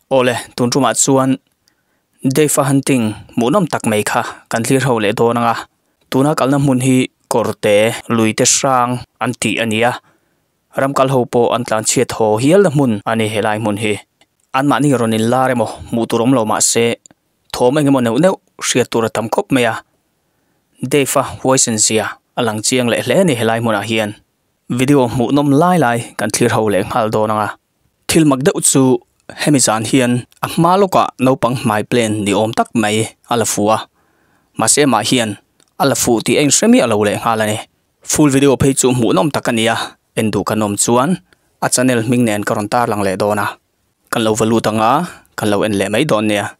Aw le, tun rum ah chuan Dave a han ting hmuh nawm tak mai kha kan hlir ho leh dawn anga, tuna kalna hmun hi kawrte, luite hrang an tih a nia. Ram kal ho pawh an tlan chhiat haw hialna hmun a ni helai hmun hi. Anmahni rawn in lar emaw hmuh tur awm lo mahse thawm engemaw neuh neuh hriat tur a tam khawp mai a. Dave-a voice in zia a lang chiang leh hle a ni helai hmunah hian. Video hmuh nawm lai lai kan thlir ho leh nghal dawn anga. Thil mak deuh chu hemi zan hian a hma lawkah naupang hmai plan ni awm tak mai a la fu a. Mahse amah hian a la fuh tih a inhre miah lo leh nghal a ni. Full video phei chu hmuh nawm tak a ni a, en duh ka nawm chuan a channel hming nen ka rawn tarlang leh dawn a, kan lo va lut ang a, kan lo en leh mai dawn nia.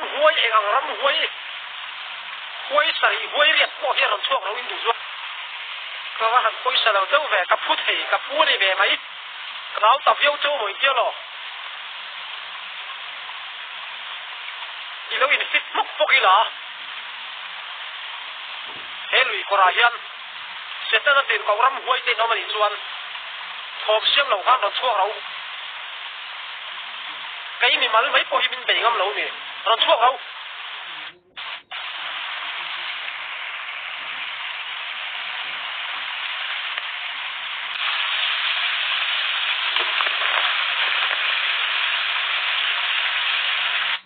Huai eng ang ram huai huai sarih huai riat pawh hian rawn chhuak loh in duh zual ka va han pawisa lo deuh ve ka phu thei ka pu a ni ve mai ka nau ta viau chau mawi tia law i lo in fit hmawk bawk ila he lui kawrah hian Setana pen Kawram huai te hlawm a nih chuan thawm siam lo khan rawn chhuak ro. Kei mimal mai pawh hi min bei ngam lo ni. Rawn chhuak ro.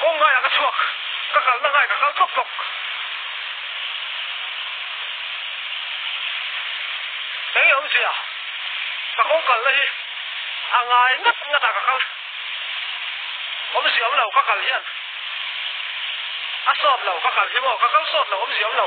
Kawng ngaiah ka chhuak, ka kalna ngai ka kal tawk tawk. Kei awm zia ka kawng kalna hi a ngai ngat ngat a ka kal. Awm zia awm lo ka kal hian a sawt lo ka kal hi maw ka kal sawt lo awm zia awm lo.